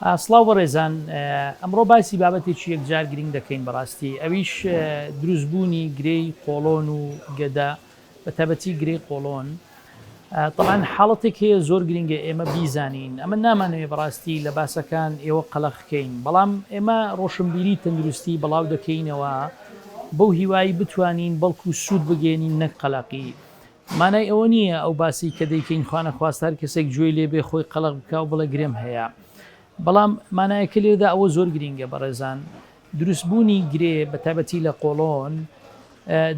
سڵاو بەڕێزان ئەمڕۆ باسی بابەتێکی یەکجار گرنگ دەکەین بەڕاستی ئەویش دروست بوونی گرێی قۆڵۆن و گەدە بە تابەتی گرێی قۆڵۆن طبعاان حاڵەتێک هەیە زۆر گرنگە ئێمە بیزانین ئەمە نامانەوێ بەڕاستی لە باسەکان ئێوە قەلەخکەین بەڵام ئێمە ڕۆشنبیری تەندروستی بڵاو دەکەینەوە بەو هیوایی بتوانین بەڵکو سوود بگەێنین نەک قەلەقی مانای ئەوە نییە ئەو باسەی کە دەیکەین خوانەخواست هەر کەسێک گوێی لێ بێ خۆی قەڵەق بکا و بڵێ گرێم هەیە. بەڵام مانایەکە لێرەدا ئەوە زۆر گرینگە بەڕێزان، دروستبوونی گرێ بە تایبەتی لە قۆڵۆن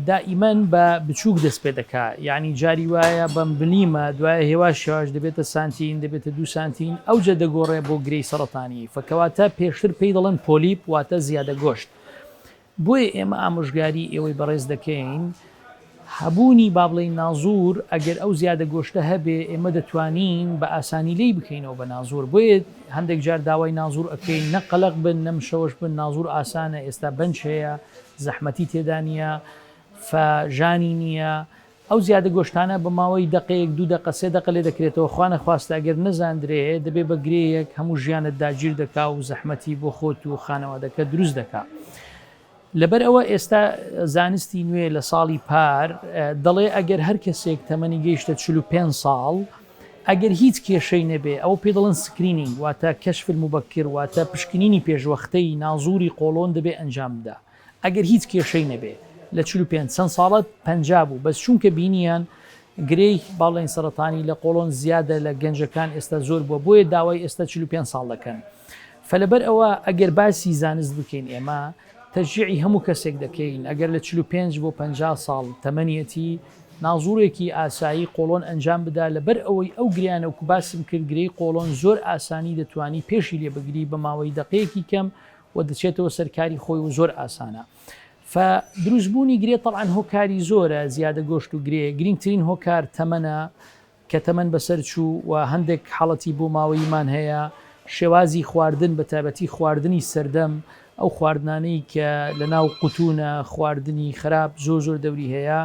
دائیمەن بە بچووک دەست پێ دەکا. یانی جاری وایە بە ملیمە، دوایە هێواش هێواش دەبێتە سانتین، دەبێتە دوو سانتین، ئەوجە دەگۆڕێ بۆ گرێی سەڕەتانی. فە کەواتە پێشتر پێی دەڵێن پۆلیپ واتە زیادە گۆشت. بۆیە ئێمە ئامۆژگاری ئێوەی بەڕێز دەکەین هەبوونی با بڵێین نازور ئەگەر ئەو زیادە گۆشتە هەبێ ئێمە دەتوانین بە ئاسانی لێی بکەینەوە بە نازور بۆیە هەندێک جار داوای نازور ئەکەین نە قەلەق بن نە مشەوەش بن نازور ئاسانە ئێستا بەنج هەیە زەحمەتی تێدا نییە فە ژانی نییە ئەو زیادە گۆشتانە بە ماوەی دەقەیەک دوو دەقە سێ دەقە لێدەکرێتەوە خوا نەخواستە ئەگەر نەزاندرێ دەبێ بە گرێیەک هەموو ژیانت داگیر دەکا و زەحمەتی بۆ خۆت و خانەوادەکەت دروست دەکا لەبەر ئەوە ئێستا زانستی نوێ لە ساڵی پار دەڵێ ئەگەر هەر کەسێک تەمەنی گەیشتە 45 ساڵ ئەگەر هیچ کێشەی نەبێ ئەو پێ دەڵن سکرینینگ واتە کەشفل مبەکر واتە پشکنینی پێشوەختەی نازوری قۆڵۆن دەبێ ئەنجام بدا ئەگەر هیچ کێشەی نەبێ لە چل و پێنج چەند ساڵە پەنجا بوو بەس چونکە بینیان گرێی باڵین سەرەتانی لە قۆڵۆن زیادە لە گەنجەکان ئێستا زۆر بووە بۆیە داوای ئێستا چل و پێنج ساڵ دەکەن فلەبەر ئەوە ئەگەر باسی زانست بکەین ئێمە تەشجیعی هەموو کەسێک دەکەین ئەگەر لە چل و پێنج بۆ پەنجا ساڵ تەمەنیەتی نازوڕێکی ئاسایی قۆڵۆن ئەنجام بدا لەبەر ئەوەی ئەو گریانە وکو باسم کرد گرێی قۆڵۆن زۆر ئاسانی دەتوانی پێشی لێ بگری بە ماوەی دەقەیەکی کەم و دەچێتەوە سەر کاری خۆی و زۆر ئاسانە ف دروست بوونی گرێ تەڵعاان هۆکاری زۆرە زیادە گۆشت و گرێ گرنگترین هۆکار تەمەە کە تەمەەن بەسەر چوو و هەندێک حاڵەتی بۆ ماوەیمان هەیە شێوازی خواردن بە تابەتی خواردنی سەردەم ئەو خواردنانەی کە لە ناو قوتونە خواردنی خراپ زۆر زۆر دەوری هەیە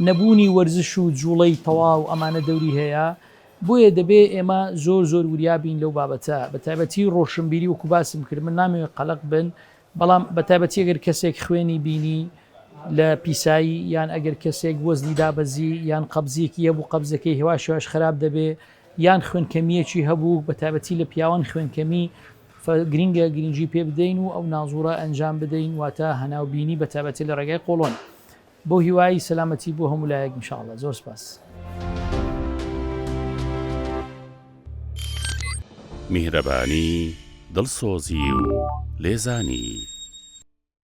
نەبوونی وەرزش و جوڵەی تەواو ئەمانە دەوری هەیە بۆیە دەبێ ئێمە زۆر زۆر وریا بین لەو بابەتە، بە تایبەتی ڕۆشنبیری وەکو باسم کرد من نامەوێ قەلەق بن، بەڵام بە تایبەتی ئەگەر کەسێک خوێنی بینی لە پیسایی یان ئەگەر کەسێک وەزنی دابەزی یان قەبزیەکی هەبوو قەبزەکەی هێواش هێواش خەراپ دەبێ یان خوێنکەمیەکی هەبوو بە تایبەتی لە پیاوان خوێنکەمی فە گرینگە گرینگی پێ بدەین و ئەو نازوڕە ئەنجام بدەین واتە هەناو بینی بە تایبەتی لە ڕێگای قۆڵۆن. بۆ هیوایی سەلامەتی بۆ هەموو لایەک ان شاءاللە زۆر سپاس. میهرەبانی، دڵسۆزی و لێزانی.